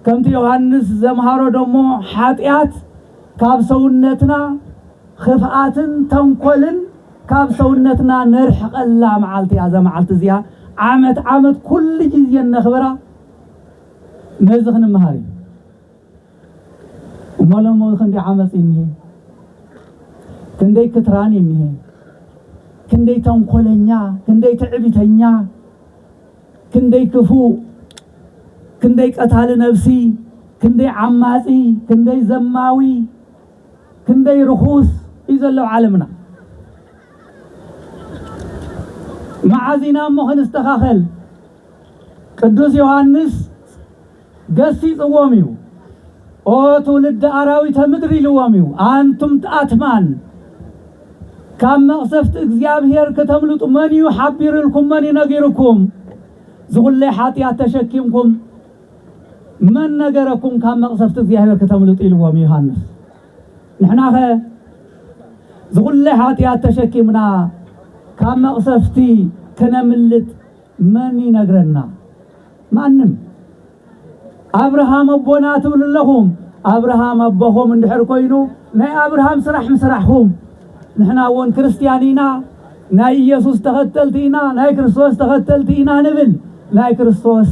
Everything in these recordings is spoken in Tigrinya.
ከምቲ ዮሃንስ ዘምሃሮ ደሞ ሓጢኣት ካብ ሰውነትና ኽፍኣትን ተንኮልን ካብ ሰውነትና ነርሕቀላ መዓልቲ እያ እዛ መዓልቲ እዚኣ ዓመት ዓመት ኩሉ ግዜ እነኽብራ ነዚ ክንምሃር እዩ እሞ ሎሚ ክንደይ ዓመፅ እዩ እኒሄ ክንደይ ክትራን እዩ እኒሄ ክንደይ ተንኮለኛ ክንደይ ትዕቢተኛ ክንደይ ክፉእ ክንደይ ቀታሊ ነብሲ ክንደይ ዓማጺ ክንደይ ዘማዊ ክንደይ ርኹስ እዩ ዘሎ ኣብ ዓለምና መዓዝ ኢና እሞ ክንስተኻኸል ቅዱስ ዮሃንስ ገሲጽዎም እዩ። ኦ ትውልደ ኣራዊተ ምድር ኢልዎም እዩ። ኣንቱም ኣትማን ካብ መቕሰፍቲ እግዚኣብሔር ክተምልጡ መን እዩ ሓቢርልኩም መን እዩ ነጊርኩም? ዝኹለይ ሓጢኣት ተሸኪምኩም መን ነገረኩም ካብ መቕሰፍቲ እግዚኣብሔር ክተምልጡ ኢልዎም ዮሃንስ። ንሕናኸ ዝኹለይ ሓጢኣት ተሸኪምና ካብ መቕሰፍቲ ክነምልጥ መን ይነግረና ማንም። ኣብርሃም ኣቦና ትብሉ ኣለኹም ኣብርሃም ኣቦኹም እንድሕር ኮይኑ ናይ ኣብርሃም ስራሕ ምስራሕኹም ንሕና እውን ክርስትያን ኢና ናይ ኢየሱስ ተኸተልቲ ኢና ናይ ክርስቶስ ተኸተልቲ ኢና ንብል ናይ ክርስቶስ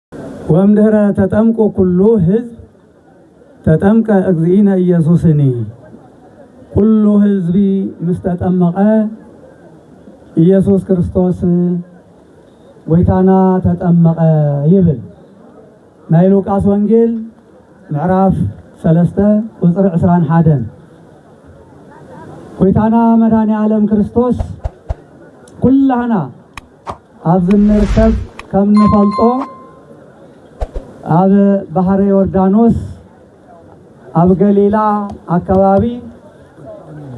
ወእምድኅረ ተጠምቁ ኩሉ ሕዝብ ተጠምቀ እግዚእነ ኢየሱስኒ ኩሉ ሕዝቢ ምስ ተጠመቐ ኢየሱስ ክርስቶስ ጐይታና ተጠመቐ ይብል። ናይ ሉቃስ ወንጌል ምዕራፍ ሰለስተ ቁፅሪ ዕስራን ሓደን ጐይታና መድኃኔ ዓለም ክርስቶስ ኩላህና ኣብዚ እንርከብ ከም እንፈልጦ ኣብ ባሕረ ዮርዳኖስ ኣብ ገሊላ ኣከባቢ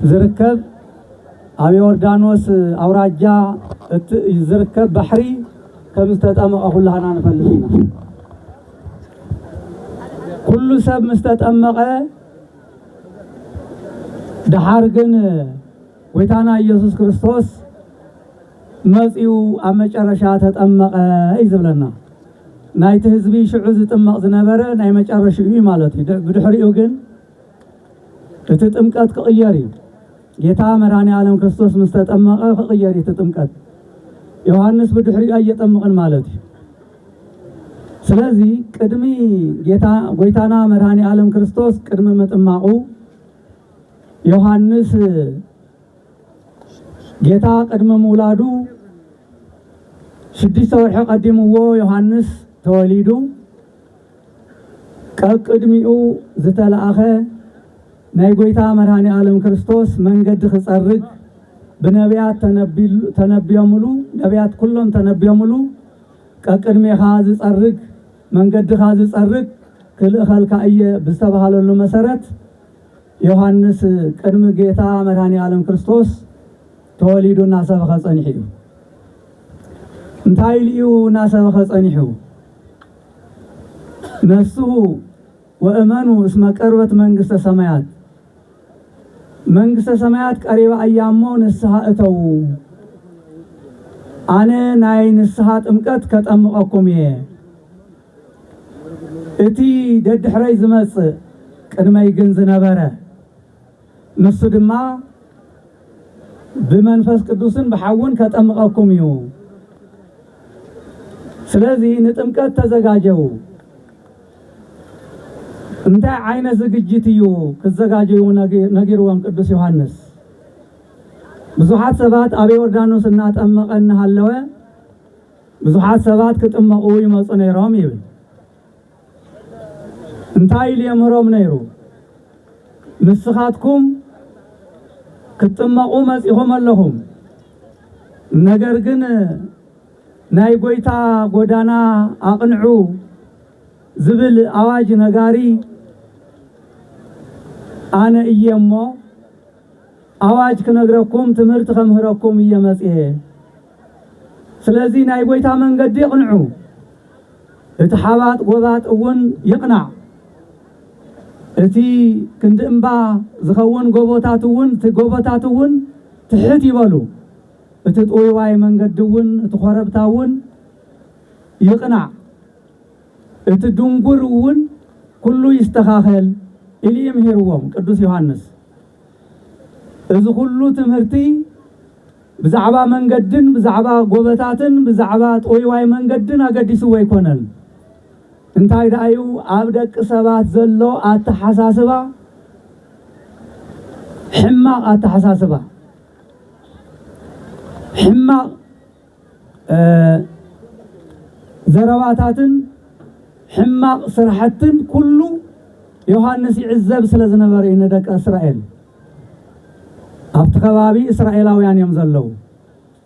ዝርከብ ኣብ ዮርዳኖስ ኣውራጃ እቲ ዝርከብ ባሕሪ ከም ዝተጠመቐ ኩላህና ንፈልጥ ኢና። ኩሉ ሰብ ምስ ተጠመቐ ደሓር ግን ጎይታና እየሱስ ክርስቶስ መጺኡ ኣብ መጨረሻ ተጠመቐ እዩ ዝብለና። ናይቲ ህዝቢ ሽዑ ዝጥመቕ ዝነበረ ናይ መጨረሽኡ እዩ ማለት እዩ። ብድሕሪኡ ግን እቲ ጥምቀት ክቕየር እዩ። ጌታ መድኃኔ ዓለም ክርስቶስ ምስ ተጠመቐ ክቕየር እዩ እቲ ጥምቀት። ዮሐንስ ብድሕሪኡ ኣየጠምቕን ማለት እዩ። ስለዚ ቅድሚ ጌታ ጎይታና መድኃኔ ዓለም ክርስቶስ ቅድሚ ምጥማቑ ዮሃንስ ጌታ ቅድሚ ምውላዱ ሽዱሽተ ወርሒ ቀዲምዎ ዮሃንስ ተወሊዱ ቀቅድሚኡ ዝተለኣኸ ናይ ጎይታ መድኃኔ ዓለም ክርስቶስ መንገዲ ክጸርግ ብነቢያት ተነቢዮምሉ ነቢያት ኩሎም ተነቢዮምሉ ቀቅድሜኻ ዝጸርግ መንገድኻ ዝጸርግ ክልእኸልካ እየ ብዝተባሃለሉ መሰረት ዮሃንስ ቅድሚ ጌታ መድኃኔዓለም ክርስቶስ ተወሊዱ እናሰበኸ ጸኒሑ እዩ። እንታይ ኢሉ እዩ እናሰበኸ ጸኒሑ? ነስሑ ወእመኑ እስመ ቀርበት መንግሥተ ሰማያት፣ መንግሥተ ሰማያት ቀሪባ እያ እሞ ንስሓ እተዉ፣ ኣነ ናይ ንስሓ ጥምቀት ከጠምቐኩም እየ እቲ ደድሕረይ ዝመጽእ ቅድመይ ግን ዝነበረ ንሱ ድማ ብመንፈስ ቅዱስን ብሓውን ከጠምቐኩም እዩ። ስለዚ ንጥምቀት ተዘጋጀው። እንታይ ዓይነት ዝግጅት እዩ ክዘጋጀዩ ነጊርዎም ቅዱስ ዮሐንስ። ብዙሓት ሰባት ኣብ ዮርዳኖስ እናጠመቐ እናሃለወ ብዙሓት ሰባት ክጥመቑ ይመጹ ነይሮም ይብል። እንታይ ኢሉ የምህሮም ነይሩ? ንስኻትኩም ክትጥመቑ መጺኹም ኣለኹም፣ ነገር ግን ናይ ጐይታ ጐዳና ኣቕንዑ ዝብል ኣዋጅ ነጋሪ ኣነ እየ እሞ፣ ኣዋጅ ክነግረኩም ትምህርቲ ከምህረኩም እየ መጺኤ ስለዚ ናይ ጎይታ መንገዲ ኣቕንዑ እቲ ሓባጥ ጎባጥ እውን ይቕናዕ እቲ ክንዲ እምባ ዝኸውን ጎቦታት እውን እቲ ጎቦታት እውን ትሕት ይበሉ እቲ ጥውይዋይ መንገዲ እውን እቲ ኮረብታ እውን ይቕናዕ እቲ ድንጉር እውን ኩሉ ይስተኻኸል ኢሊ ምሂርዎም ቅዱስ ዮሃንስ እዚ ኩሉ ትምህርቲ ብዛዕባ መንገድን ብዛዕባ ጎበታትን ብዛዕባ ጥውይዋይ መንገድን ኣገዲስዎ ኣይኮነን። እንታይ ደኣዩ ኣብ ደቂ ሰባት ዘሎ ኣተሓሳስባ ሕማቕ ኣተሓሳስባ ሕማቕ ዘረባታትን ሕማቕ ስራሕትን ኩሉ ዮሃንስ ይዕዘብ ስለ ዝነበረ እዩ ንደቂ እስራኤል ኣብቲ ከባቢ እስራኤላውያን እዮም ዘለዉ።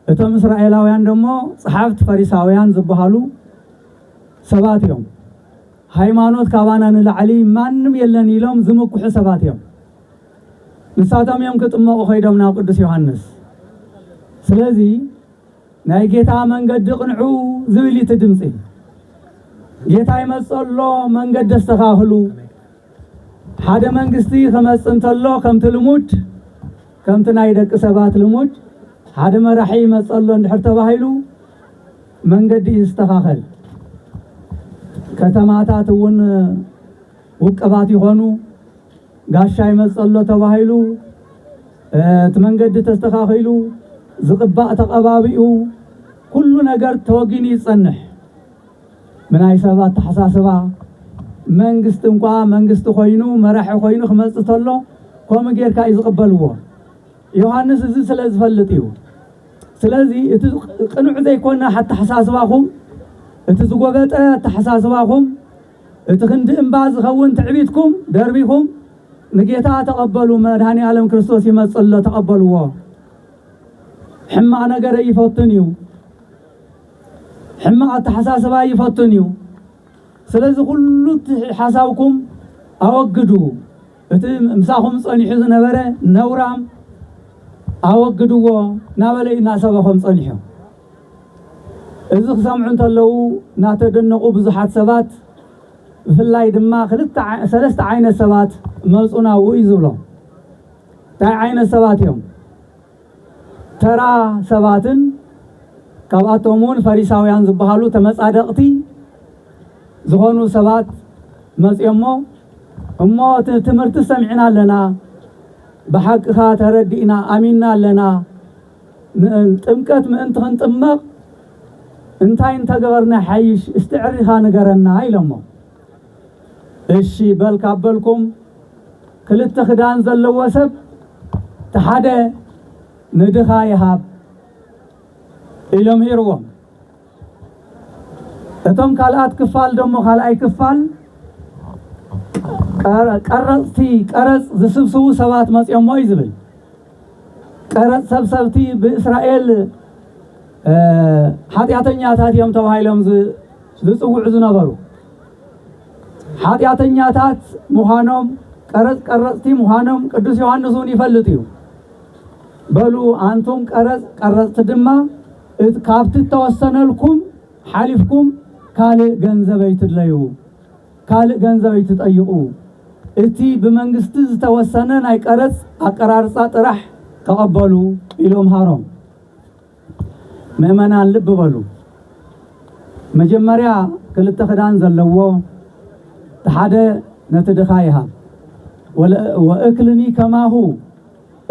እቶም እስራኤላውያን ደሞ ጸሓፍት ፈሪሳውያን ዝበሃሉ ሰባት እዮም። ሃይማኖት ካባና ንላዕሊ ማንም የለን ኢሎም ዝምኩሑ ሰባት እዮም። ንሳቶም እዮም ክጥመቑ ከይዶም ናብ ቅዱስ ዮሃንስ ስለዚ ናይ ጌታ መንገዲ ቅንዑ ዝብል እቲ ድምፂ ጌታ ይመፅእ ኣሎ መንገዲ ኣስተኻኽሉ ሓደ መንግስቲ ክመፅእ እንተሎ ከምቲ ልሙድ ከምቲ ናይ ደቂ ሰባት ልሙድ ሓደ መራሒ ይመፅእ ኣሎ እንድሕር ተባሂሉ መንገዲ ይስተኻኸል ከተማታት እውን ውቅባት ይኾኑ ጋሻ ይመፅእ ኣሎ ተባሂሉ እቲ መንገዲ ተስተኻኺሉ ዝቕባእ ተቐባቢኡ ኩሉ ነገር ተወጊኑ ይፀንሕ ምናይ ሰብ ኣተሓሳስባ መንግስቲ እንኳ መንግስቲ ኮይኑ መራሒ ኮይኑ ክመፅእ ተሎ ከምኡ ጌርካ እዩ ዝቕበልዎ ዮሃንስ እዚ ስለ ዝፈልጥ እዩ ስለዚ እቲ ቅኑዕ ዘይኮነ ኣተሓሳስባኹም እቲ ዝጎበጠ ኣተሓሳስባኹም እቲ ክንዲ እምባ ዝኸውን ትዕቢትኩም ደርቢኹም ንጌታ ተቐበሉ መድኃኔዓለም ክርስቶስ ይመጽእ ኣሎ ተቐበልዎ ሕማቕ ነገር ኣይፈቱን እዩ ሕማቕ ኣተሓሳስባ ኣይፈቱን እዩ ስለዚ ኩሉ እቲ ሓሳብኩም ኣወግዱ እቲ ምሳኹም ጸኒሑ ዝነበረ ነውራም ኣወግድዎ ናበለ እዩ እናሰበኾም ጸኒሑ እዚ ክሰምዑ እንተለዉ ናተደነቑ ብዙሓት ሰባት ብፍላይ ድማ ክልተ ሰለስተ ዓይነት ሰባት መጹ ናብኡ እዩ ዝብሎም። እንታይ ዓይነት ሰባት እዮም? ተራ ሰባትን ካብኣቶም እውን ፈሪሳውያን ዝበሃሉ ተመጻደቕቲ ዝኾኑ ሰባት መጽዮሞ እሞ ትምህርቲ ሰሚዕና ኣለና ብሓቅኻ ተረዲእና ኣሚንና ኣለና ጥምቀት ምእንቲ ክንጥመቕ እንታይ እንተገበርና ይሓይሽ እስቲ ዕሪኻ ንገረና ኢሎሞ። እሺ በል ካብ በልኩም ክልተ ክዳን ዘለዎ ሰብ እቲ ሓደ ንድኻ ይሃብ ኢሎም ሂርዎም። እቶም ካልኣት ክፋል ደሞ ካልኣይ ክፋል ቀረፅቲ ቀረፅ ዝስብስቡ ሰባት መፅኦሞ እዩ ዝብል ቀረፅ ሰብሰብቲ ብእስራኤል ሓጢኣተኛታት እዮም ተባሂሎም ዝፅውዑ ዝነበሩ ሓጢኣተኛታት ምዃኖም ቀረፅ ቀረፅቲ ምዃኖም ቅዱስ ዮሐንስ እውን ይፈልጥ እዩ በሉ ኣንቱም ቀረፅ ቀረፅቲ ድማ እት ካብቲ እተወሰነልኩም ሓሊፍኩም ካልእ ገንዘብ ኣይትድለዩ፣ ካልእ ገንዘብ ኣይትጠይቑ፣ እቲ ብመንግስቲ ዝተወሰነ ናይ ቀረጽ ኣቀራርጻ ጥራሕ ተቐበሉ ኢሉ ኣምሃሮም። ምእመናን ልቢ በሉ፣ መጀመርያ ክልተ ክዳን ዘለዎ እቲ ሓደ ነቲ ድኻ ይሃብ፣ ወእክልኒ ከማሁ፣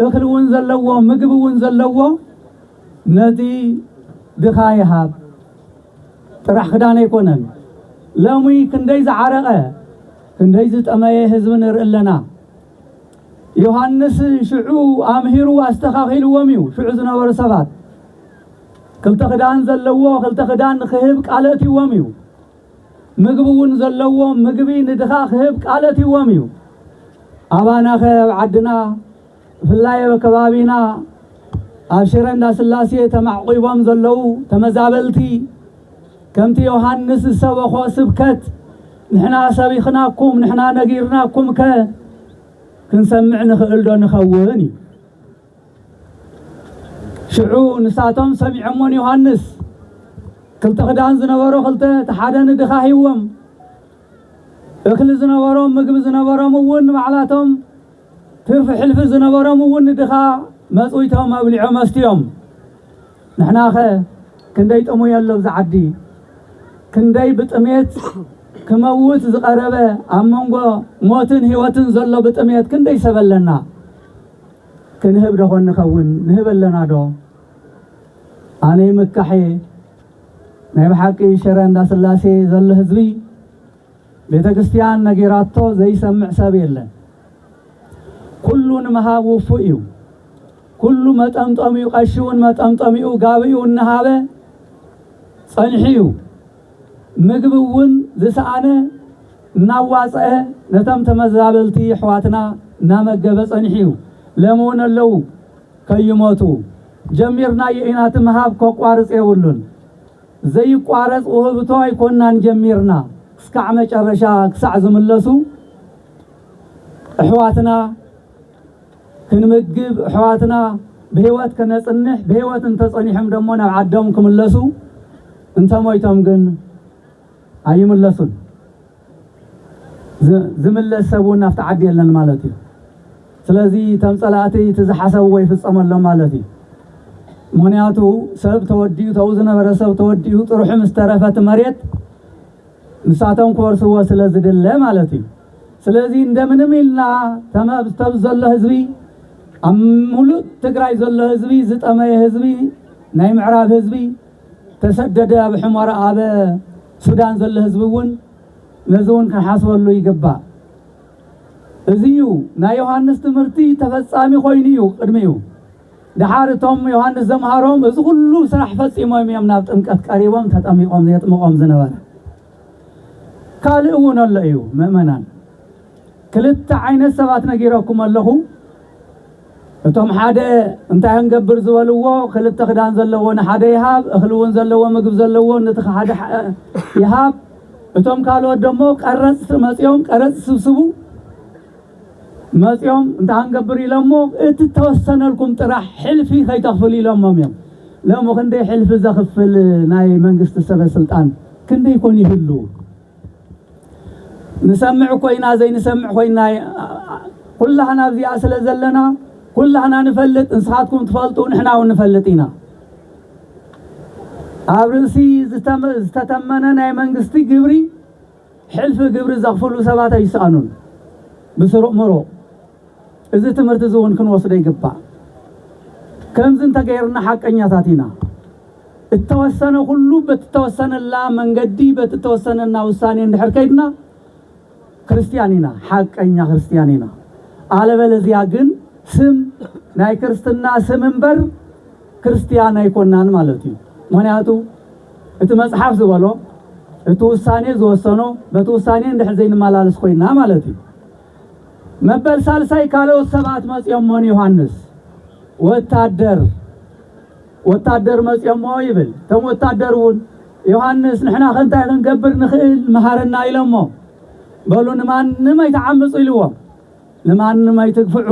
እኽሊ እውን ዘለዎ ምግቢ እውን ዘለዎ ነቲ ድኻ ይሃብ ጥራሕ ክዳን ኣይኮነን ለሚ ክንደይ ዝዓረቀ ክንደይ ዝጠመየ ህዝቢ ንርኢ ኣለና ዮሃንስ ሽዑ ኣምሂሩ ኣስተኻኺልዎም እዩ ሽዑ ዝነበሩ ሰባት ክልተ ክዳን ዘለዎ ክልተ ክዳን ንክህብ ቃል ኣእትይዎም እዩ ምግቢ እውን ዘለዎም ምግቢ ንድኻ ክህብ ቃል ኣትይዎም እዩ። ኣባናኸ ኣብ ዓድና ብፍላይ ኣብ ከባቢና ኣብ ሽረ እንዳስላሴ ተማዕቚቦም ዘለዉ ተመዛበልቲ ከምቲ ዮሃንስ ዝሰበኾ ስብከት ንሕና ሰቢኽናኩም ንሕና ነጊርናኩምከ ክንሰምዕ ንኽእልዶ ንኸውን እዩ። ሽዑ ንሳቶም ሰሚዖሞ ንዮሃንስ ክልተ ክዳን ዝነበሮ ክልተ እቲ ሓደ ንድኻ ሂዎም እኽሊ ዝነበሮም ምግቢ ዝነበሮም እውን ባዕላቶም ትርፊ ሕልፊ ዝነበሮም እውን ንድኻ መፅዊቶም ኣብሊዖ መስትዮም ንሕናኸ ክንደይ ጥሙይ ኣሎ ብዛ ዓዲ ክንደይ ብጥሜት ክመውት ዝቐረበ ኣብ መንጎ ሞትን ህይወትን ዘሎ ብጥሜት ክንደይ ሰበለና ክንህብ ዶ ኾን ንኸውን ንህብ ኣለና ዶ ኣነ ይምካሕ እየ ናይ ብሓቂ ሽረ እንዳስላሴ ዘሎ ህዝቢ ቤተክርስትያን ነጊራቶ ዘይሰምዕ ሰብ የለን ኩሉ ንምሃብ ውፉእ እዩ ኩሉ መጠምጠሚኡ ቀሺውን መጠምጠሚኡ ጋብኢውን እናሃበ ጸኒሑ እዩ ምግቢ እውን ዝሰኣነ እናዋፀኣ ነቶም ተመዛበልቲ የሕዋትና እናመገበ ፀኒሑ እዩ። ለሚ እውን ኣለው ከይሞቱ። ጀሚርናዮ ኢና እቲ ምሃብ ከቋርፅ የብሉን። ዘይቋረፅ ውህብቶ ኣይኮናን ጀሚርና እስካዕ መጨረሻ ክሳዕ ዝምለሱ እሕዋትና። ክንምግብ እሕዋትና ብህይወት ከነጽንሕ ብህይወት እንተጸኒሖም ደሞ ናብ ዓዶም ክምለሱ እንተሞይቶም ግን ኣይምለሱን ዝምለስ ሰብ ውን ኣብቲ ዓዲ የለን ማለት እዩ ስለዚ እቶም ጸላእቲ እቲ ዝሓሰብዎ ይፍጸመሎም ማለት እዩ ምክንያቱ ሰብ ተወዲኡ ተኡ ዝነበረ ሰብ ተወዲኡ ጥርሑ ምስ ተረፈ እቲ መሬት ንሳቶም ክወርስዎ ስለ ዝድለ ማለት እዩ። ስለዚ እንደምንም ኢልና ተምኣብዚ ዘሎ ህዝቢ ኣብ ሙሉእ ትግራይ ዘሎ ህዝቢ ዝጠመየ ህዝቢ ናይ ምዕራብ ህዝቢ ተሰደደ ኣብ ሕሞራ ኣበ ሱዳን ዘሎ ህዝቢ እውን ነዚ እውን ክንሓስበሉ ይግባእ። እዚ እዩ ናይ ዮሃንስ ትምህርቲ ተፈፃሚ ኮይኑ እዩ ቅድሚኡ። ደሓር እቶም ዮሃንስ ዘምሃሮም እዚ ዅሉ ስራሕ ፈጺሞም እዮም ናብ ጥምቀት ቀሪቦም ተጠሚቖም ዜጥምቖም ዝነበረ። ካልእ እውን ኣሎ እዩ ምእመናን። ክልተ ዓይነት ሰባት ነጊረኩም ኣለኹ። እቶም ሓደ እንታይ ክንገብር ዝበልዎ ክልተ ክዳን ዘለዎ ንሓደ ይሃብ፣ እኽሊ እውን ዘለዎ ምግቢ ዘለዎ ነቲ ሓደ ይሃብ፣ እቶም ካልኦት ደሞ ቀረጽቲ መጺኦም ቀረጽ ይስብስቡ። መጺኦም እንታይ ክንገብር ኢሎሞ እቲ እተወሰነልኩም ጥራሕ ሕልፊ ከይተኽፍሉ ኢሎሞም እዮም። ሎሚ ክንደይ ሕልፊ ዘኽፍል ናይ መንግስቲ ሰበ ስልጣን ክንደይ ኮን ይህሉ? ንሰምዕ እኮ ኢና ዘይንሰምዕ ኮይና ኩላህና ኣብዚኣ ስለ ዘለና ኩላህና ንፈልጥ ንስኻትኩም ትፈልጡ ንሕና እውን ንፈልጥ ኢና ኣብ ርእሲ ዝተተመነ ናይ መንግስቲ ግብሪ ሕልፊ ግብሪ ዘኽፍሉ ሰባት ኣይሰኣኑን። ብስሩዕ ምሩቕ እዚ ትምህርቲ እዚ እውን ክንወስዶ ይግባእ። ከምዚ እንተገይርና ሓቀኛታት ኢና። እተወሰነ ኩሉ በቲ እተወሰነላ መንገዲ በቲ እተወሰነና ውሳኔ እንድሕር ከይድና ክርስትያን ኢና፣ ሓቀኛ ክርስትያን ኢና። ኣለበለዚያ ግን ስም ናይ ክርስትና ስም እምበር፣ ክርስትያን ኣይኮናን ማለት እዩ ምክንያቱ እቲ መጽሓፍ ዝበሎ እቲ ውሳኔ ዝወሰኖ በቲ ውሳኔ እንድሕር ዘይንመላለስ ኮይና ማለት እዩ መበል ሳልሳይ ካልኦት ሰባት መጽዮሞ ንዮሃንስ ወታደር ወታደር መጽዮሞ ይብል እቶም ወታደር እውን ዮሃንስ ንሕና ከንታይ ክንገብር ንኽእል መሃረና ኢሎሞ በሉ ንማንም ኣይተዓምፁ ኢልዎም ንማንም ኣይትግፍዑ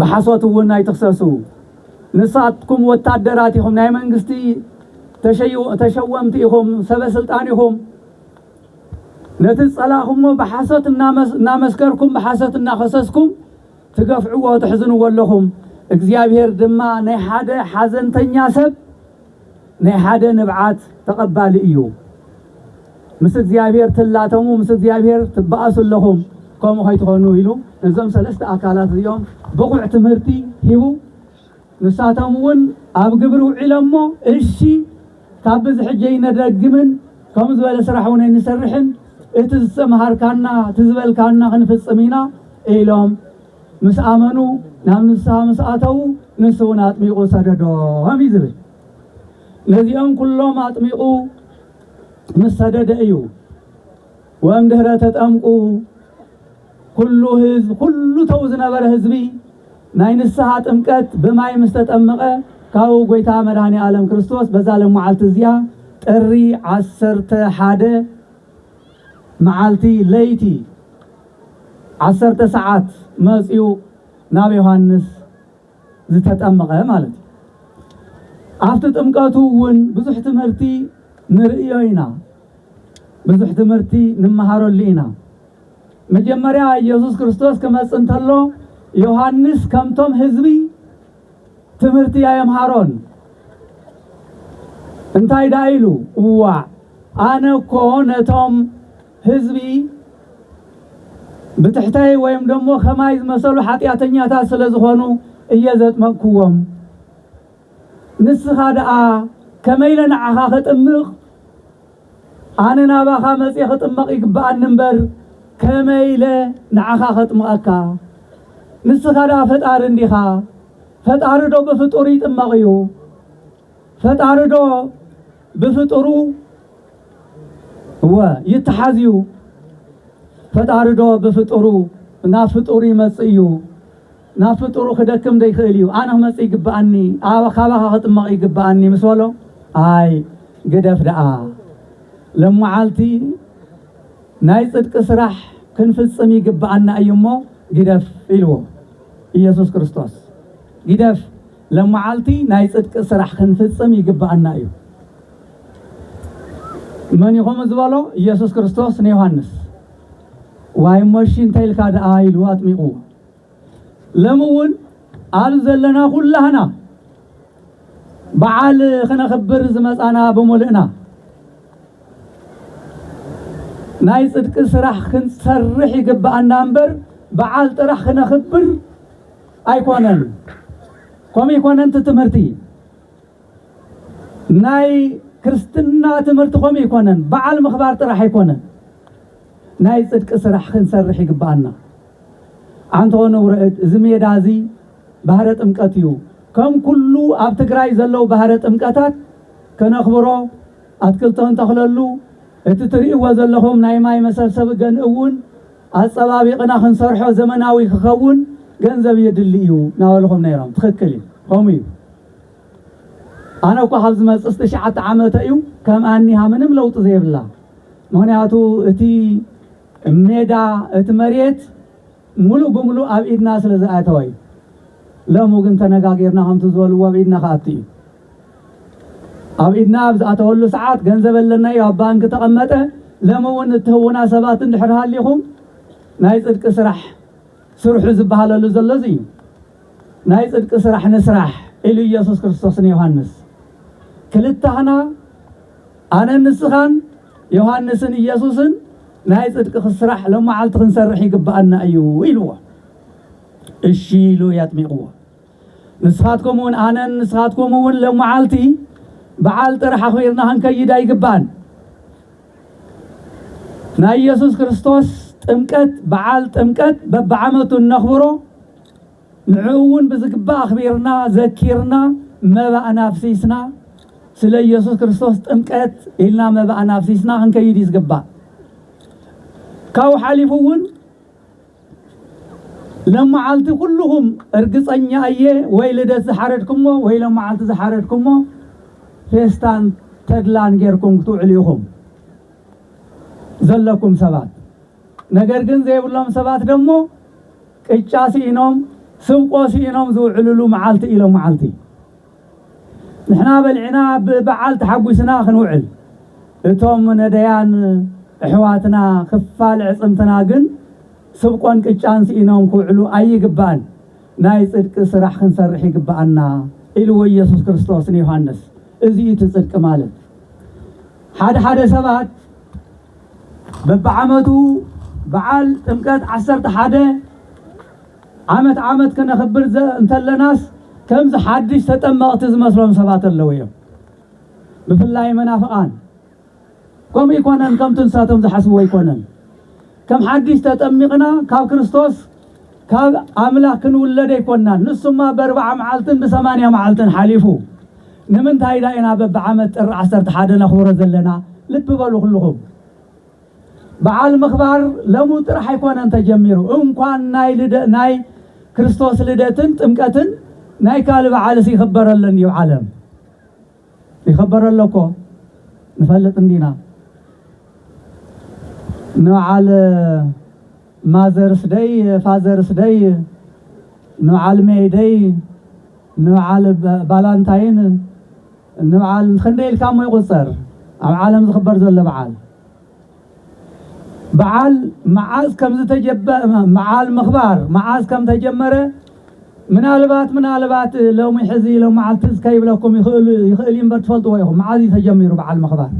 ብሓሶት እውን ኣይትኽሰሱ ንሳትኩም ወታደራት ኢኹም ናይ መንግስቲ ተሸወምቲ ኢኹም ሰበ ስልጣን ኢኹም ነቲ ዝጸላእኹሞ ብሓሶት እናመስከርኩም ብሓሶት እናኸሰስኩም ትገፍዕዎ ትሕዝንዎ ኣለኹም እግዚኣብሔር ድማ ናይ ሓደ ሓዘንተኛ ሰብ ናይ ሓደ ንብዓት ተቐባሊ እዩ። ምስ እግዚኣብሔር ትላተሙ ምስ እግዚኣብሔር ትበኣሱ ኣለኹም ከምኡ ከይትኾኑ ኢሉ ነዞም ሰለስተ ኣካላት እዚኦም ብቑዕ ትምህርቲ ሂቡ ንሳቶም እውን ኣብ ግብሪ ውዒሎሞ እሺ ካብ ብዚ ሕጂ ኣይነደግምን ከምኡ ዝበለ ስራሕ እውን ኣይንሰርሕን እቲ ዝተምሃርካና እቲ ዝበልካና ክንፍፅም ኢና ኢሎም ምስ ኣመኑ ናብ ንስሃ ምስ ኣተዉ ንሱ እውን ኣጥሚቑ ሰደዶም እዩ ዝብል። ነዚኦም ኩሎም ኣጥሚቑ ምስ ሰደደ እዩ ወእምድኅረ ተጠምቁ ኩሉ ህዝብ ኩሉ ተው ዝነበረ ህዝቢ ናይ ንስሓ ጥምቀት ብማይ ምስ ተጠመቐ ካብኡ ጐይታ መድኃኔ ዓለም ክርስቶስ በዛ ለመዓልቲ እዚኣ ጥሪ ዓሰርተ ሓደ መዓልቲ ለይቲ ዓሰርተ ሰዓት መጺኡ ናብ ዮሐንስ ዝተጠምቐ ማለት እዩ። ኣብቲ ጥምቀቱ እውን ብዙሕ ትምህርቲ ንርእዮ ኢና፣ ብዙሕ ትምህርቲ ንመሃረሉ ኢና። መጀመርያ ኢየሱስ ክርስቶስ ክመጽእ እንተሎ ዮሐንስ ከምቶም ህዝቢ ትምህርቲ ኣየምሃሮን። እንታይ ደኣ ኢሉ? እዋዕ ኣነ እኮ ነቶም ህዝቢ ብትሕተይ ወይም ደሞ ከማይ ዝመሰሉ ሓጢኣተኛታት ስለ ዝኾኑ እየ ዘጥመቕኩዎም። ንስኻ ደኣ ከመይ ኢለ ንዓኻ ኸጥምቕ? ኣነ ናባኻ መጺኤ ክጥመቕ ይግብኣኒ እምበር፣ ከመይ ኢለ ንዓኻ ኸጥምቐካ? ንስኻ ደኣ ፈጣሪ እንዲኻ? ፈጣሪዶ ብፍጡር ይጥመቕ'ዩ? ፈጣሪዶ ብፍጡሩ እወ ይተሓዝ እዩ ፈጣሪ ዶ ብፍጡሩ ናብ ፍጡሩ ይመጽእ እዩ ናብ ፍጡሩ ክደክም ዶ ይኽእል እዩ ኣነ ክመጽእ ይግብኣኒ ኣብ ካባኻ ክጥመቕ ይግብኣኒ ምስ በሎ ኣይ ግደፍ ደኣ ለመዓልቲ ናይ ጽድቂ ስራሕ ክንፍጽም ይግብኣና እዩ እሞ ግደፍ ኢልዎ ኢየሱስ ክርስቶስ ግደፍ ለማዓልቲ ናይ ፅድቂ ስራሕ ክንፍፅም ይግበኣና እዩ መን እዩ ከምኡ ዝበሎ ኢየሱስ ክርስቶስ ንዮሐንስ ዋይ እሞ እሺ እንተይልካ ደኣ ኢሉ ኣጥሚቁዎ ለሚ እውን ኣብ ዘለና ኩላህና በዓል ክነኽብር ዝመፃና ብምልእና ናይ ፅድቂ ስራሕ ክንሰርሕ ይግበኣና እምበር በዓል ጥራሕ ክነኽብር ኣይኮነን ኮምይኮነንት ትምህርቲ ናይ ክርስትና ትምህርቲ ኮምይኮነን በዓል ምኽባር ጥራሕ ኣይኮነን ናይ ፅድቂ ስራሕ ክንሰርሕ ይግበኣና ኣንቶ ንውረድ እዚ ሜዳ እዚ ባህረ ጥምቀት እዩ ከም ኩሉ ኣብ ትግራይ ዘለው ባህረ ጥምቀታት ከነኽብሮ ኣትክልቶ ንተኽለሉ እቲ ትርእይዎ ዘለኹም ናይ ማይ መሰብሰቢ ገንእውን ኣጸባቢቕና ክንሰርሖ ዘመናዊ ክኸውን ገንዘብ የድሊ እዩ ናበልኹም ነይሮም ትኽክል እዩ ከምኡ እዩ ኣነ እኳ ካብ ዝመጽስ ትሽዓተ ዓመተ እዩ ከም ኣኒሃ ምንም ለውጢ ዘይብላ ምክንያቱ እቲ ሜዳ እቲ መሬት ሙሉእ ብምሉእ ኣብ ኢድና ስለ ዝኣተወ እዩ ለሙ ግን ተነጋጊርና ከምቲ ዝበልዎ ኣብ ኢድና ክኣቱ እዩ ኣብ ኢድና ኣብ ዝኣተወሉ ሰዓት ገንዘብ ኣለና እዩ ኣብ ባንኪ ተቐመጠ። ለሚ እውን እትህቡና ሰባት እንድሕር ሃሊኹም ናይ ጽድቂ ስራሕ ስርሑ ዝበሃለሉ ዘሎ እዚ እዩ። ናይ ጽድቂ ስራሕ ንስራሕ ኢሉ ኢየሱስ ክርስቶስ ንዮሃንስ ክልታህና ኣነን ንስኻን ዮሃንስን ኢየሱስን ናይ ጽድቂ ክስራሕ ለመዓልቲ ክንሰርሕ ይግባኣና እዩ ኢልዎ። እሺ ኢሉ የጥሚቕዎ። ንስኻትኩም እውን ኣነን ንስኻትኩም እውን ሎምዓልቲ በዓል ጥር ሓኺርና ክንከይድ ኣይግባእን። ናይ ኢየሱስ ክርስቶስ ጥምቀት በዓል ጥምቀት በብዓመቱ እነኽብሮ ንዕኡ እውን ብዝግባእ ኣኽቢርና ዘኪርና መባእና ኣፍሲስና ስለ ኢየሱስ ክርስቶስ ጥምቀት ኢልና መባእና ኣፍሲስና ክንከይድ እዩ ዝግባእ። ካብኡ ሓሊፉ እውን ለማዓልቲ ኩሉኹም እርግፀኛ እየ ወይ ልደት ዝሓረድኩሞ ወይ ለማዓልቲ ዝሓረድኩሞ ፌስታን ተድላን ጌርኩም ክትውዕሉ ኢኹም ዘለኩም ሰባት ነገር ግን ዘይብሎም ሰባት ደሞ ቅጫ ስኢኖም ስብቆ ስኢኖም ዝውዕልሉ መዓልቲ እዩ ለማዓልቲ ንሕና በሊዕና ብበዓል ተሓጒስና ክንውዕል እቶም ነደያን እሕዋትና ክፋል ኣዕጽምትና ግን ስብቆን ቅጫን ስኢኖም ክውዕሉ ኣይግባእን ናይ ጽድቂ ስራሕ ክንሰርሕ ይግባኣና ኢልዎ ኢየሱስ ክርስቶስ ንዮሃንስ እዚ እዩ እቲ ጽድቂ ማለት ሓደ ሓደ ሰባት በብዓመቱ በዓል ጥምቀት ዓሰርተ ሓደ ዓመት ዓመት ክነኽብር እንተለናስ ከምዚ ሓድሽ ተጠመቕቲ ዝመስሎም ሰባት ኣለዉ እዮም ብፍላይ መናፍቓን ከምኡ ኣይኮነን ከምቲ ንሳቶም ዝሓስብዎ ኣይኮነን ከም ሓድሽ ተጠሚቕና ካብ ክርስቶስ ካብ ኣምላኽ ክንውለድ ኣይኮናን ንሱማ በርብዓ መዓልትን ብሰማንያ መዓልትን ሓሊፉ ንምንታይ ዳኢና በብዓመት ጥሪ ዓሰርተ ሓደ ነኽብሮ ዘለና ልቢ በሉ ኩልኹም በዓል ምኽባር ለሙ ጥራሕ ኣይኮነን ተጀሚሩ እንኳን ናይ ክርስቶስ ልደትን ጥምቀትን ናይ ካልእ በዓልስ ይኽበረለን ድዩ ዓለም ይኽበረሎ እኮ ንፈልጥ እንዲና ንበዓል ማዘርስ ደይ ፋዘርስ ደይ ንበዓል ሜይ ደይ ንበዓል ባላንታይን እንብዓል ክንደይ ኢልካ እሞ ይቁጸር ኣብ ዓለም ዝክበር ዘሎ ብዓል። ብዓል መዓዝ ከምዝተጀበ ብዓል ምክባር መዓዝ ከምተጀመረ ምናልባት ምናልባት ሎሚ ሕዚ ሎም መዓል ትዝ ከይብለኩም ይክእሉ ይክእል እምበር ትፈልጥዎ ኢኹም መዓዝ እዩ ተጀሚሩ ብዓል ምክባር።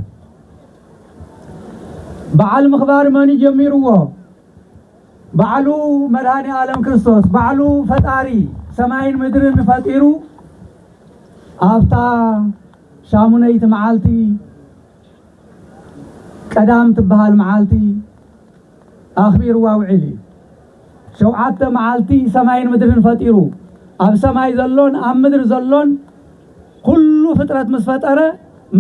ብዓል ምክባር መን እዩ ጀሚርዎ? ባዕሉ መድኃኔ ዓለም ክርስቶስ ባዕሉ ፈጣሪ ሰማይን ምድርን ፈጢሩ ኣብታ ሻሙነይቲ መዓልቲ ቀዳም ትበሃል መዓልቲ ኣኽቢርዋ ውዒል እዩ። ሸውዓተ መዓልቲ ሰማይን ምድርን ፈጢሩ ኣብ ሰማይ ዘሎን ኣብ ምድር ዘሎን ኩሉ ፍጥረት ምስ ፈጠረ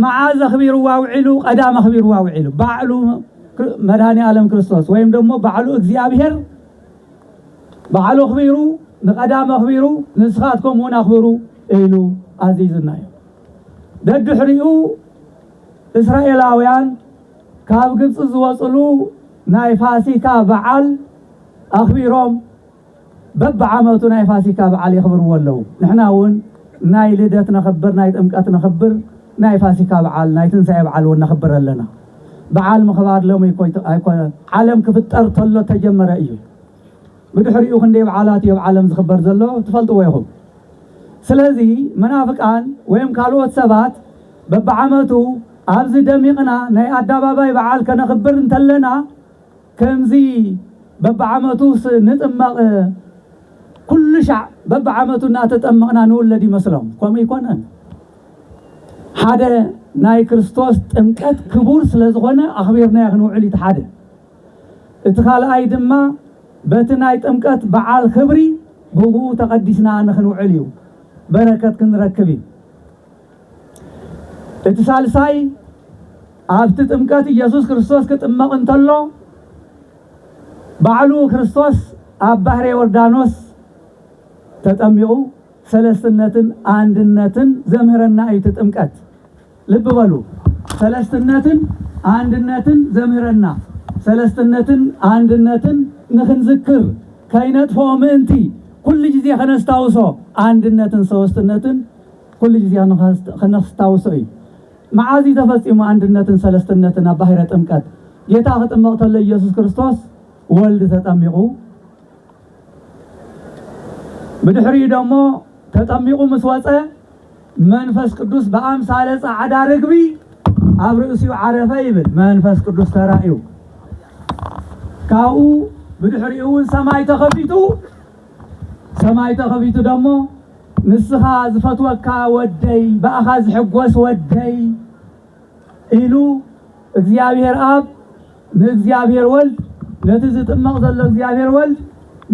መዓዝ ኣኽቢርዋ ኣውዒሉ? ቀዳም ኣኽቢርዋ ኣውዒሉ። ባዕሉ መድኃኔ ዓለም ክርስቶስ ወይም ደሞ ባዕሉ እግዚኣብሔር ባዕሉ ኣኽቢሩ ንቀዳም ኣኽቢሩ ንስኻትኩም እውን ኣኽብሩ ኢሉ ኣዚዙና እዩ። ደድሕሪኡ እስራኤላውያን ካብ ግብፂ ዝወፅሉ ናይ ፋሲካ በዓል ኣኽቢሮም በብዓመቱ ናይ ፋሲካ በዓል የኽብርዎ ኣለዉ። ንሕና እውን ናይ ልደት ነኽብር፣ ናይ ጥምቀት ነኽብር፣ ናይ ፋሲካ በዓል፣ ናይ ትንሳኤ በዓል እውን ነኽብር ኣለና። በዓል ምኽባር ሎሚ ኣይኮነን፣ ዓለም ክፍጠር ተሎ እተጀመረ እዩ። ብድሕሪኡ ክንደይ በዓላት እዩ ኣብ ዓለም ዝኽበር ዘሎ ትፈልጥዎ ኢኹም። ስለዚ መናፍቃን ወይም ካልኦት ሰባት በብዓመቱ ኣብዚ ደሚቕና ናይ ኣዳባባይ በዓል ከነኽብር እንተለና፣ ከምዚ በብዓመቱስ ንጥመቕ ኩሉ ሻዕ በብዓመቱ እናተጠመቕና ንውለድ ይመስሎም። ከምኡ ኣይኮነን። ሓደ ናይ ክርስቶስ ጥምቀት ክቡር ስለ ዝኾነ ኣኽቢርናዮ ክንውዕል እዩ እቲ ሓደ። እቲ ካልኣይ ድማ በቲ ናይ ጥምቀት በዓል ክብሪ ብእኡ ተቐዲስና ንኽንውዕል እዩ። በረከት ክንረክብ እዩ። እቲ ሳልሳይ ኣብቲ ጥምቀት ኢየሱስ ክርስቶስ ክጥመቕ እንተሎ ባዕሉ ክርስቶስ ኣብ ባሕረ ዮርዳኖስ ተጠሚቑ ሰለስትነትን ኣንድነትን ዘምህረና እዩ። እቲ ጥምቀት ልቢ በሉ፣ ሰለስትነትን ኣንድነትን ዘምህረና ሰለስትነትን ኣንድነትን ንክንዝክር ከይነጥፍኦ ምእንቲ ኩሉ ግዜ ከነስታውሶ ኣንድነትን ሰወስትነትን ኩሉ ግዜ ከነስታውሶ እዩ። መዓዝ እዩ ተፈጺሙ ኣንድነትን ሰለስትነትን ኣብ ባሕረ ጥምቀት? ጌታ ክጥመቕ ከሎ ኢየሱስ ክርስቶስ ወልድ ተጠሚቑ ብድሕሪኡ ደሞ ተጠሚቑ ምስ ወጸ መንፈስ ቅዱስ ብኣምሳለ ጻዕዳ ርግቢ ኣብ ርእሲኡ ዓረፈ ይብል መንፈስ ቅዱስ ተራእዩ ካብኡ ብድሕሪኡ እውን ሰማይ ተኸፊቱ ሰማይ ተኸፊቱ ደሞ ንስኻ ዝፈትወካ ወደይ ብኣኻ ዝሕጎስ ወደይ ኢሉ እግዚኣብሔር ኣብ ንእግዚኣብሔር ወልድ ነቲ ዝጥመቕ ዘሎ እግዚኣብሔር ወልድ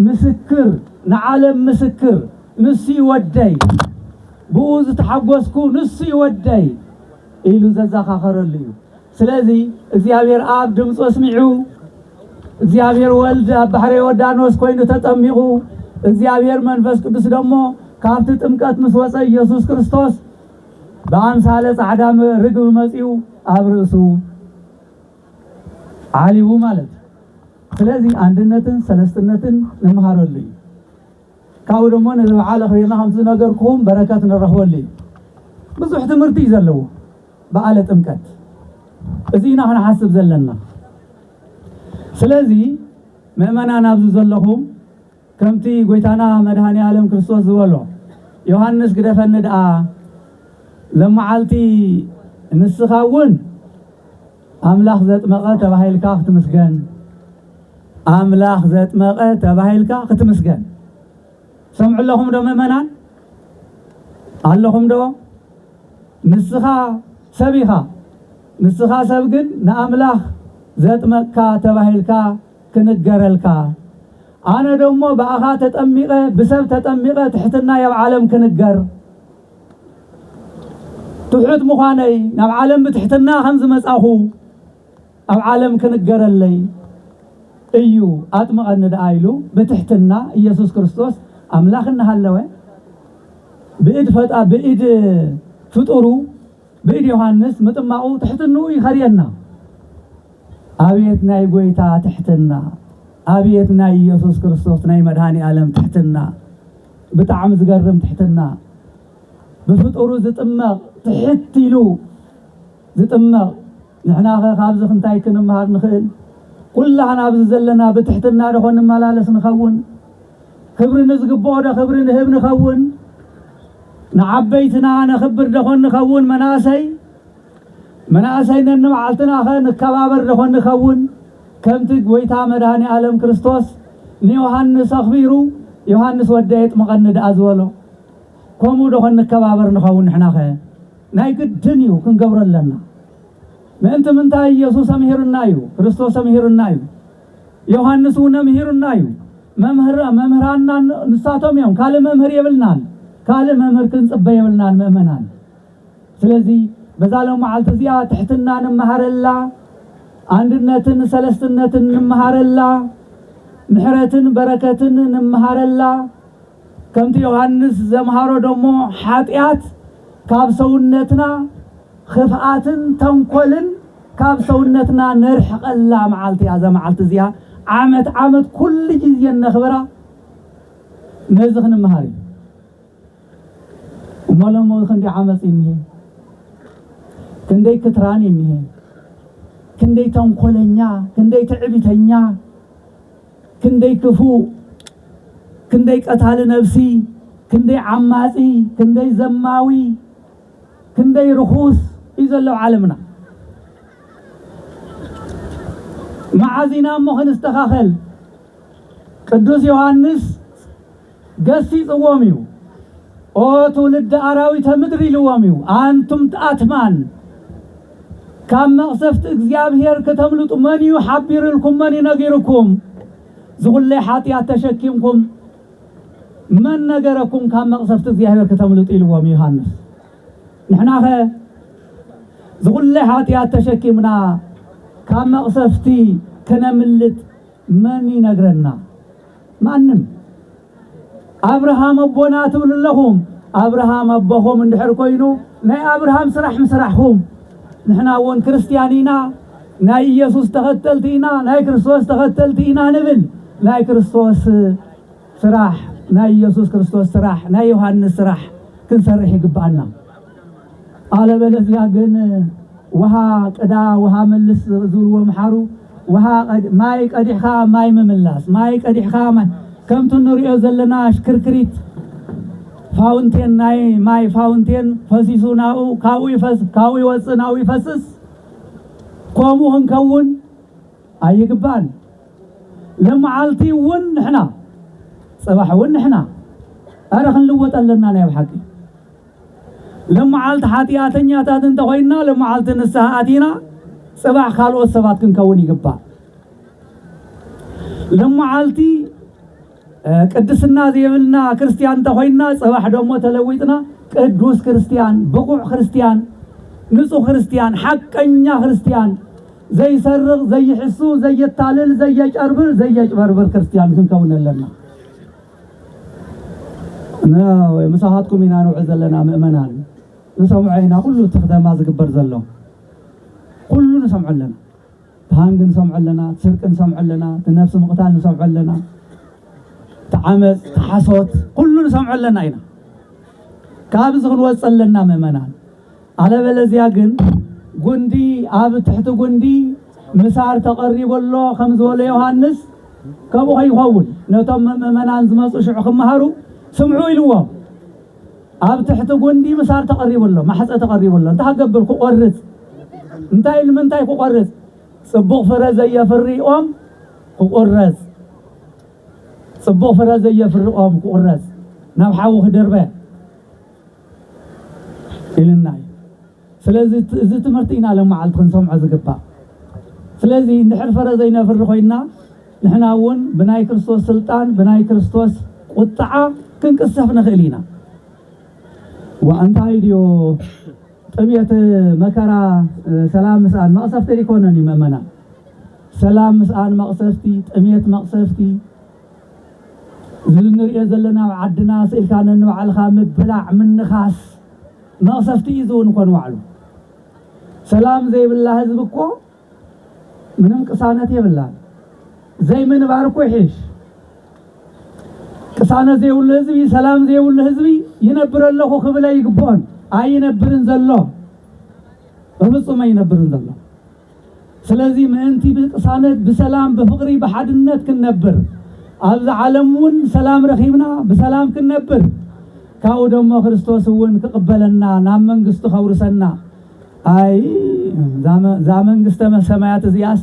ምስክር ንዓለም ምስክር ንሱ እዩ ወደይ ብኡ ዝተሓጎስኩ ንሱ እዩ ወደይ ኢሉ ዘዛኻኸረሉ እዩ። ስለዚ እግዚኣብሔር ኣብ ድምፁ ኣስሚዑ፣ እግዚኣብሔር ወልድ ኣብ ባሕረ ዮርዳኖስ ኮይኑ ተጠሚቑ፣ እግዚኣብሔር መንፈስ ቅዱስ ደሞ ካብቲ ጥምቀት ምስ ወፀ ኢየሱስ ክርስቶስ ብኣምሳለ ጻዕዳ ርግብ መጺኡ ኣብ ርእሱ ዓሊቡ ማለት እዩ። ስለዚ ኣንድነትን ሰለስትነትን ንምሃረሉ እዩ። ካብኡ ደሞ ነዚ በዓል ኣኽቢርና ከምቲ ዝነገርኩኹም በረከት ንረኽበሉ እዩ። ብዙሕ ትምህርቲ እዩ ዘለዎ በዓለ ጥምቀት። እዚ ኢና ክንሓስብ ዘለና። ስለዚ ምእመናን ኣብዚ ዘለኹም ከምቲ ጎይታና መድኃኔዓለም ክርስቶስ ዝበሎ ዮሐንስ ግደፈኒ ደኣ ሎመዓልቲ ንስኻ እውን ኣምላኽ ዘጥመቐ ተባሂልካ ክትምስገን ኣምላኽ ዘጥመቐ ተባሂልካ ክትምስገን ሰምዑ ኣለኹም ዶ ምእመናን ኣለኹም ዶ ንስኻ ሰብ ኢኻ ንስኻ ሰብ ግን ንኣምላኽ ዘጥመቅካ ተባሂልካ ክንገረልካ ኣነ ደሞ ብኣኻ ተጠሚቐ ብሰብ ተጠሚቐ ትሕትና የብ ዓለም ክንገር ትሑት ምዃነይ ናብ ዓለም ብትሕትና ከም ዝመጻኹ ኣብ ዓለም ክንገረለይ እዩ ኣጥምቐኒ ደኣ ኢሉ ብትሕትና ኢየሱስ ክርስቶስ ኣምላኽ እናሃለወ ብእድ ፈጣ ብእድ ፍጡሩ ብኢድ ዮሃንስ ምጥማቁ ትሕትንኡ ይኸርየና። ኣብየት ናይ ጎይታ ትሕትና ኣብየት ናይ ኢየሱስ ክርስቶስ ናይ መድኃኒኣለም ትሕትና ብጣዕሚ ዝገርም ትሕትና ብፍጡሩ ዝጥመቅ ትሕት ኢሉ ዝጥመቅ ንሕናኸ ካብዚ እንታይ ክንምሃር ንኽእል? ኩላህና ኣብዚ ዘለና ብትሕትና ደኾን ንመላለስ ንኸውን? ክብሪ ንዝግብኦዶ ክብሪ ንህብ ንኸውን? ንዓበይትና ነኽብር ደኾን ንኸውን? መናእሰይ መናእሰይ ነንመዓልትናኸ ንከባበር ደኾን ንኸውን? ከምቲ ጐይታ መድኃኔዓለም ክርስቶስ ንዮሐንስ ኣኽቢሩ ዮሐንስ ወደየ ጥምቐኒ ደኣ ዝበሎ፣ ከምኡ ደኾን ንከባበር ንኸውን ንሕናኸ? ናይ ግድን እዩ ክንገብሮ ኣለና ምእንቲ ምንታይ ኢየሱስ ኣምሂሩና እዩ ክርስቶስ ኣምሂሩና እዩ ዮሐንስ እውን ኣምሂሩና እዩ መምህር መምህራና ንሳቶም እዮም ካልእ መምህር የብልናን ካልእ መምህር ክንጽበ የብልናን ምእመናን ስለዚ በዛ ሎም መዓልቲ እዚኣ ትሕትና ንመሃረላ ኣንድነትን ሰለስትነትን ንመሃረላ ምሕረትን በረከትን ንመሃረላ ከምቲ ዮሃንስ ዘምሃሮ ደሞ ሓጢኣት ካብ ሰውነትና ኽፍኣትን ተንኮልን ካብ ሰውነትና ነርሕቐላ መዓልቲ እያ። እዛ መዓልቲ እዚኣ ዓመት ዓመት ኩሉ ግዜ እነኽብራ ነዚ ክንምሃር እዩ። እሞ ሎሚ ክንደይ ዓመፅ እኒሀ፣ ክንደይ ክትራን እኒሀ፣ ክንደይ ተንኮለኛ፣ ክንደይ ትዕቢተኛ ክንደይ ክፉእ ክንደይ ቀታሊ ነብሲ ክንደይ ዓማጺ ክንደይ ዘማዊ ክንደይ ርኹስ እዩ ዘሎ ኣብ ዓለምና መዓዝ ኢና እሞ ክንስተኻኸል ቅዱስ ዮሃንስ ገሲጽዎም እዩ። ኦ ትውልደ ኣራዊተ ምድር ኢልዎም እዩ። ኣንቱም ኣትማን ካብ መቕሰፍቲ እግዚኣብሔር ክተምልጡ መን እዩ ሓቢርልኩም መን እዩ ነጊርኩም? ዝኹለይ ሓጢኣት ተሸኪምኩም መን ነገረኩም ካብ መቕሰፍቲ እግዚኣብሔር ክተምልጡ ኢልዎም እዩ ዮሃንስ። ንሕናኸ ዝኹለይ ሓጢኣት ተሸኪምና ካብ መቕሰፍቲ ክነምልጥ መን ይነግረና? ማንም ኣብርሃም ኣቦና ትብሉ ኣለኹም ኣብርሃም ኣቦኹም እንድሕር ኮይኑ ናይ ኣብርሃም ስራሕ ምስራሕኹም ንሕና እውን ክርስትያን ኢና ናይ ኢየሱስ ተኸተልቲ ኢና ናይ ክርስቶስ ተኸተልቲ ኢና ንብል ናይ ክርስቶስ ስራሕ ናይ ኢየሱስ ክርስቶስ ስራሕ ናይ ዮሐንስ ስራሕ ክንሰርሕ ይግባኣና ኣለበለዚያ ግን ውሃ ቅዳ ውሃ መልስ ዝብልዎ ምሓሩ ውሃ ማይ ቀዲሕካ ማይ ምምላስ ማይ ቀዲሕካ ማይ ከምቲ እንሪኦ ዘለና ሽክርክሪት ፋውንቴን ናይ ማይ ፋውንቴን ፈሲሱ ናብኡ ካብኡ ይፈስ ካብኡ ይወፅእ ናብኡ ይፈስስ ከምኡ ክንከውን ኣይግባን ልምዓልቲ እውን ንሕና ፅባሕ እውን ንሕና ኣረ ክንልወጥ ኣለና ናይ ኣብ ሓቂ ለማዓልት ሓጥያተኛታት እንተኾይንና ለማዓልት ንስሃ ኣቲና ጽባሕ ካልኦት ሰባት ክንከውን ይግባእ። ለማዓልቲ ቅድስና ዘይብልና ክርስትያን እንተኾይንና ጽባሕ ደሞ ተለዊጥና ቅዱስ ክርስትያን፣ ብቑዕ ክርስትያን፣ ንጹህ ክርስትያን፣ ሓቀኛ ክርስትያን፣ ዘይሰርቕ፣ ዘይሕሱ፣ ዘየታልል፣ ዘየጨርብር፣ ዘየጭበርብር ክርስትያን ክንከውን ኣለና። ምሳኻትኩም ኢና ንውዕል ዘለና ምእመናን ንሰምዖ ኢና ኩሉ እቲ ክተማ ዝግበር ዘሎ ኩሉ ንሰምዖ ኣለና ተሃንግ ንሰምዖ ኣለና ስርቂ ንሰምዖ ኣለና ትነብሲ ምቕታል ንሰምዖ ኣለና ተዓመፅ ተሓሶት ኩሉ ንሰምዖ ኣለና ኢና ካብዚ ክንወፅ ኣለና ምእመናን ኣለበለዚያ ግን ጉንዲ ኣብ ትሕቲ ጉንዲ ምሳር ተቐሪቡ ኣሎ ከም ዝበሎ ዮሃንስ ከምኡ ከይኸውን ነቶም ምእመናን ዝመፁ ሽዑ ክመሃሩ ስምዑ ኢልዎም ኣብ ትሕቲ ጉንዲ ምሳር ተቐሪቡ ኣሎ ማሕፀ ተቐሪቡ ኣሎ እንታይ ክገብር ክቆርፅ እንታይ ንምንታይ ክቆርፅ ፅቡቕ ፍረ ዘየፍሪ ኦም ክቁረፅ ፅቡቕ ፍረ ዘየፍሪ ኦም ክቁረፅ ናብ ሓዊ ክድርበ ኢልና እዩ ስለዚ እዚ ትምህርቲ ኢና ለመዓልቲ ክንሰምዖ ዝግባእ ስለዚ እንድሕር ፍረ ዘይነፍሪ ኮይና ንሕና እውን ብናይ ክርስቶስ ስልጣን ብናይ ክርስቶስ ቁጥዓ ክንቅሰፍ ንኽእል ኢና እንታይ ድዮ ጥምየት መከራ ሰላም ምስኣን መቕሰፍቲ ይኮነን እዩ መእመና ሰላም ምስኣን መቕሰፍቲ ጥምየት መቕሰፍቲ እዚ እንሪኦ ዘለና ኣብ ዓድና ስኢልካ ነንባዕልኻ ምብላዕ ምንኻስ መቕሰፍቲ እዩ ዝውን ኮን ዋዕሉ። ሰላም ዘይብላ ህዝቢ እኮ ምንም ቅሳነት የብላን። ዘይምንባር እኮ ይሕሽ። ቅሳነት ዘይብሉ ህዝቢ፣ ሰላም ዘይብሉ ህዝቢ ይነብር ኣለኹ ክብል ኣይግብኦን። ኣይነብርን ዘሎ በፍጹም ኣይነብርን ዘሎ። ስለዚ ምእንቲ ብቅሳነት ብሰላም ብፍቅሪ ብሓድነት ክንነብር ኣብዚ ዓለም እውን ሰላም ረኪብና ብሰላም ክንነብር ካብኡ ደሞ ክርስቶስ እውን ክቅበለና ናብ መንግስቱ ከውርሰና ኣይ እዛ መንግስተ ሰማያት እዚኣስ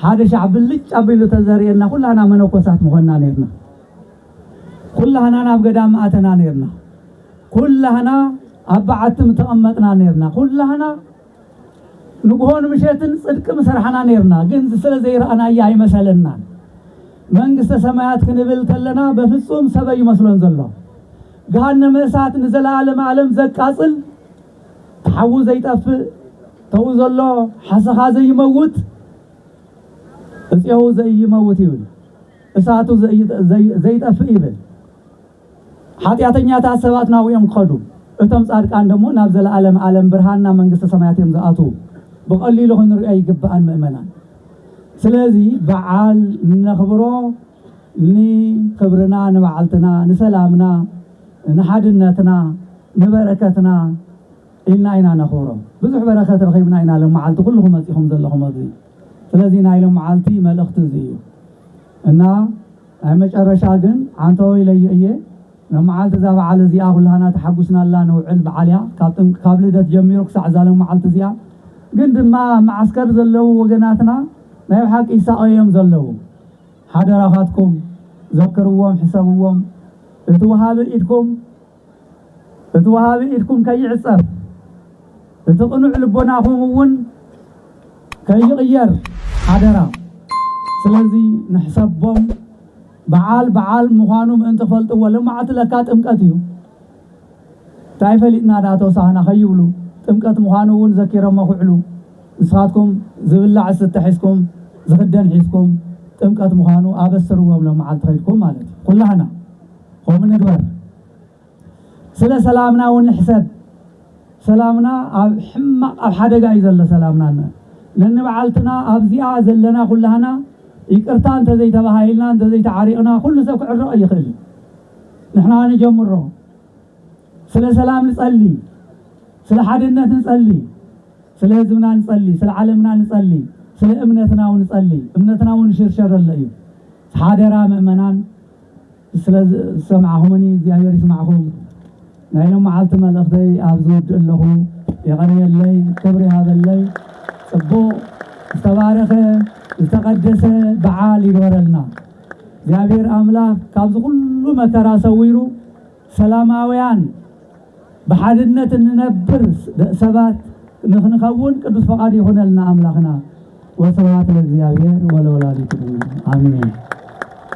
ሓደ ሻዕ ብልጭ ኣቢሉ ተዘርእየና ኩላና መነኮሳት ምኾንና ነርና ኩላህና ናብ ገዳም ኣተና ነርና ኩላህና ኣብ በዓቲ ምተቐመጥና ነርና ኩላህና ንግሆን ምሸትን ጽድቂ ምሰርሓና ኔርና ግን ስለ ዘይረኣናያ ኣይመሰለናን መንግስተ ሰማያት ክንብል ከለና በፍጹም ሰብ ኣይመስሎን ዘሎ ገሃነመ እሳት ንዘለዓለም ዓለም ዘቃጽል ተሓዉ ዘይጠፍእ ተዉ ዘሎ ሓሰኻ ዘይመውት እጽዮው ዘይመውት ይብል እሳቱ ዘይጠፍእ ይብል ሓጢኣተኛታት ሰባት ናብኡ እዮም ክኸዱ፣ እቶም ጻድቃን ደሞ ናብ ዘለኣለም ኣለም ብርሃን ናብ መንግስተ ሰማያት እዮም ዝኣትዉ። ብቐሊሉ ክንርእዮ ኣይግባእን ምእመናን። ስለዚ በዓል እነኽብሮ ንኽብርና፣ ንባዕልትና፣ ንሰላምና፣ ንሓድነትና፣ ንበረከትና ኢልና ኢና ነኽብሮ። ብዙሕ በረከት ረኺብና ኢና ሎም መዓልቲ ኩልኹም መጺኹም ዘለኹም ኣብዚ። ስለዚ ናይ ሎም መዓልቲ መልእኽቲ እዚ እዩ እና ናይ መጨረሻ ግን ዓንተወ ኢለዮ እየ ን መዓልቲ እዛ በዓል እዚኣ ኩላህና ተሓጉስናላ ነውዕል በዓል እያ ካብ ጥምቅ ካብ ልደት ጀሚሩ ክሳዕ እዛ ሎመዓልቲ እዚኣ ግን ድማ ኣብ መዓስከር ዘለዉ ወገናትና ናይ ብሓቂ ይሳቀዩ እዮም ዘለዉ ሓደራካትኩም ዘክርዎም ሕሰብዎም እቲ ወሃቢ ኢድኩም እቲ ወሃቢ ኢድኩም ከይዕጸፍ፣ እቲ ቅኑዕ ልቦናኹም እውን ከይቕየር ሓደራ። ስለዚ ንሕሰቦም በዓል በዓል ምዃኑ ምእንቲ ክፈልጥዎ ልማዓቲ ለካ ጥምቀት እዩ ታይ ፈሊጥና ዳኣ ተውሳኽና ከይብሉ ጥምቀት ምዃኑ እውን ዘኪረሞ ክውዕሉ ንስኻትኩም ዝብላዕ ዝስተ ሒዝኩም ዝኽደን ሒዝኩም ጥምቀት ምዃኑ ኣበስርዎም ሎማዓልቲ ከይድኩም ማለት እዩ ኩላህና ከምኡ ንግበር ስለ ሰላምና እውን ንሕሰብ ሰላምና ኣብ ሕማቅ ኣብ ሓደጋ እዩ ዘሎ ሰላምና እነ ነንባዓልትና ኣብዚኣ ዘለና ኩላህና ይቅርታ እንተዘይተባሃሂልና እንተዘይተዓሪቅና ኩሉ ሰብ ክዕረቅ ይክእል ንሕና ንጀምሮ ስለ ሰላም ንጸሊ ስለ ሓድነት ንጸሊ ስለ ህዝብና ንጸሊ ስለ ዓለምና ንጸሊ ስለ እምነትና እውን ንጸሊ እምነትና እውን ይሽርሸር ዘሎ እዩ ሓደራ ምእመናን ስለ ዝሰማዕኹምኒ እግዚኣብሔር ይስማዕኹም ናይ ሎማዓልቲ መልእኽተይ ኣብዚ ውድእ ኣለኹ የቐንየለይ ክብሪ ይሃበለይ ጽቡቕ ዝተባረኸ ዝተቐደሰ በዓል ይግበረልና እግዚኣብሔር ኣምላኽ ካብዚ ኩሉ መከራ ሰዊሩ ሰላማውያን ብሓድነት እንነብር ሰባት ንክንኸውን ቅዱስ ፈቃድ ይኹነልና ኣምላኽና። ወስብሐት ለእግዚኣብሔር ወለወላዲቱ ድንግል አሜን።